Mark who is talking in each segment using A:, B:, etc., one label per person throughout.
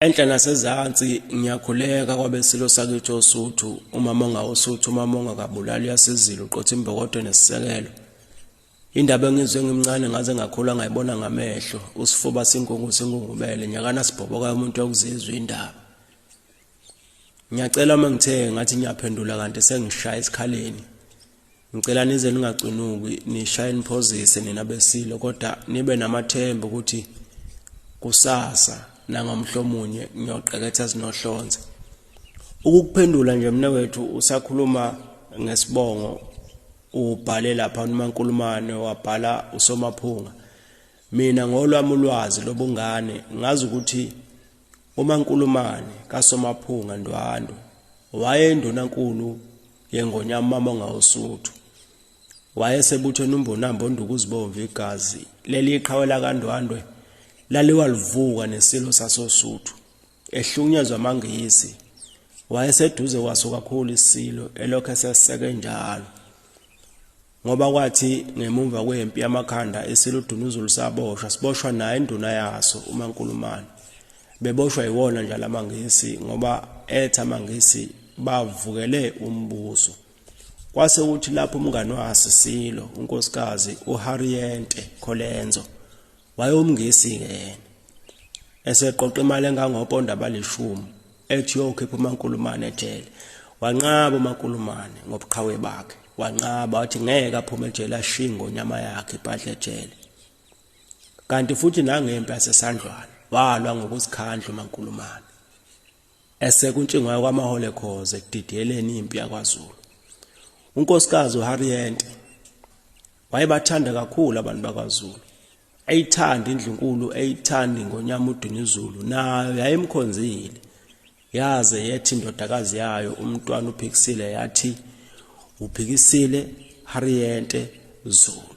A: Enhla nasezansi ngiyakhuleka kwabesilo sakithi osuthu umama ongawosuthu umama ongakabulali uyasizila uqotha imbokodo nesisekelo indaba engizwe ngimncane ngaze ngakhula ngayibona ngamehlo usifuba sinkungu singungubele nyakana sibhoboka umuntu okuzizwa indaba ngiyacela uma ngithe ngathi ngiyaphendula kanti sengishaya esikhaleni Ngicela nize ningacunuki nishaye niphozise nina besilo kodwa nibe namathemba ukuthi kusasa nangomhlomunye ngiyoqeketha zinohlonze. Ukukuphendula nje mina wethu usakhuluma ngesibongo ubhale lapha uNomankulumane wabhala uSomaphunga. Mina ngolwami ulwazi lobungane ngazi ukuthi uMankulumane kaSomaphunga Ndwandwe wayendunankulu yengonyama mama ngawusuthu wayesebuthweni umbonambo onduku uzibomvu igazi leli iqhawe lakandwandwe laliwalivuka nesilo sasosuthu ehlukunyezwa amangisi wayeseduze kwaso kakhulu isilo elokhu eseseke njalo Ngoba kwathi ngemumva kwempi yamakhanda isiludunuzulu saboshwa siboshwa naye induna yaso uMankulumane. Beboshwa yiwona nje lamaNgisi ngoba etha amaNgisi bavukele umbuso. Kwase kuthi lapho umngane waSisilo uNkosikazi uHarriente Kholenzo wayewumngisi-ke yena eseqoqa imali engangoponda abalishumi ethi yokhipha umankulumane ejele wanqaba umankulumane ngobuqhawe bakhe wanqaba wathi ngeke aphume ejele ashiye ngonyama yakhe ibhadle ejele kanti futhi nangempi yasesandlwana walwa ngokuzikhandla umankulumane esekuntshingwayo kwaMahole Khoza ekudidiyeleni impi yakwaZulu. UNkosikazi uHarriet wayebathanda kakhulu abantu bakwaZulu. Eyithanda indlunkulu, eyithanda ingonyama uDunuzulu nayo yayimkhonzile. Yaze yethi indodakazi yayo umntwana uPhikisile yathi uPhikisile Harriet Zulu.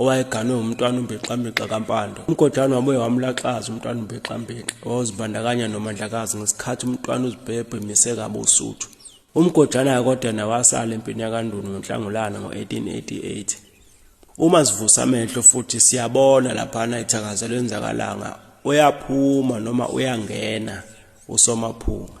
A: owayeganwe umntwana umbexambexa kampando umgodlane wabuye wamlaxaza umntwana umbexambexa wawuzibandakanya nomandlakazi ngesikhathi umntwana uzibhebhe mise kabi usuthu umgodlana kodwa nawasala empini yakandunu ngonhlangulana ngo-1888 uma sivusa amehlo futhi siyabona laphana ithakazelo enzakalanga uyaphuma noma uyangena usomaphunga